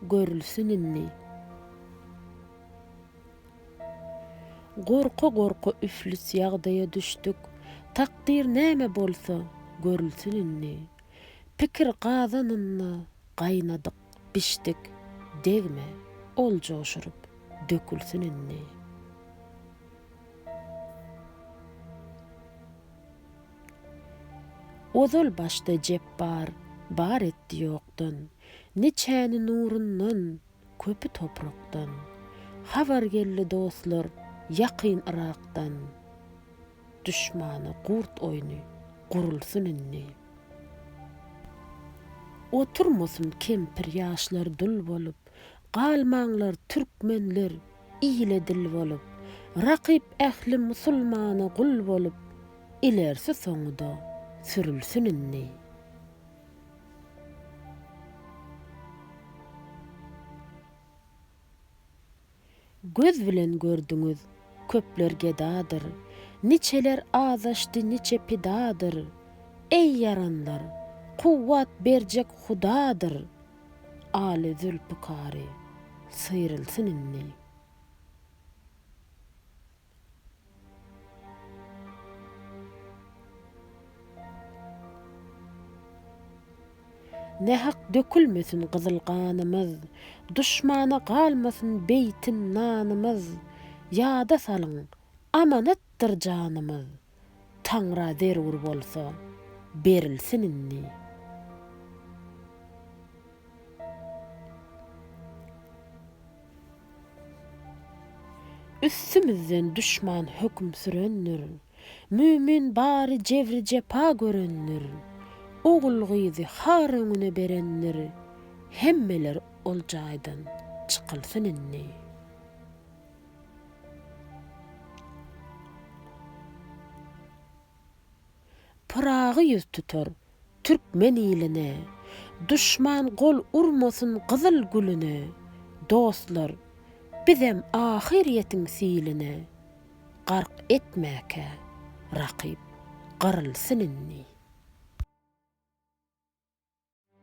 Görülsin indi. Gorka-gorka üflis ýagdaýa düşdük. Takdyr näme bolsa, görülsin indi. Pikir gazanynda gaýnadyk, bişdik. Degme, ol joşuryp, dökülsin indi. Ozal başda Jepbar bar etdi ýokdan, Niçäni nurundan, köpi toprakdan. Habar geldi dostlar ýakyn Yrakdan, Duşmana gurt oýny gurulsyn indi. Oturmasyn kempir ýaşlar dul bolup, Galmaňlar türkmenler ile dil bolup, Rakyp ähli musulmana gul bolup, Ilersi soňuda sürülsin indi. Göz bilen gördüňiz, köpler gedadyr, Niçeler azaşdy, niçe pidadyr. Eý, ýaranlar, kuwwat berjek Hudadyr! Aly Zülpikary, syrylsyn indi. Nähak dökülmesin gyzyl ganymyz, Duşmana galmasyn beýtin nanymyz, Ýada salyň, amanatdyr janymyz. Taňra zerur bolsa, berilsin indi. Üstümizden duşman höküm sürendir. Mümin bary jebri-jepa görendir. Ogul-gyzy har öňüne berendir. Hemmeler ol jaýdan çykylsyn indi. Pyragy ýüz tutar türkmen iline, Duşman gol urmasyn gyzyl güline, Dostlar, bizem ahyrýetiň siline, Gark etmäkä, rakyp gyrylsyn indi.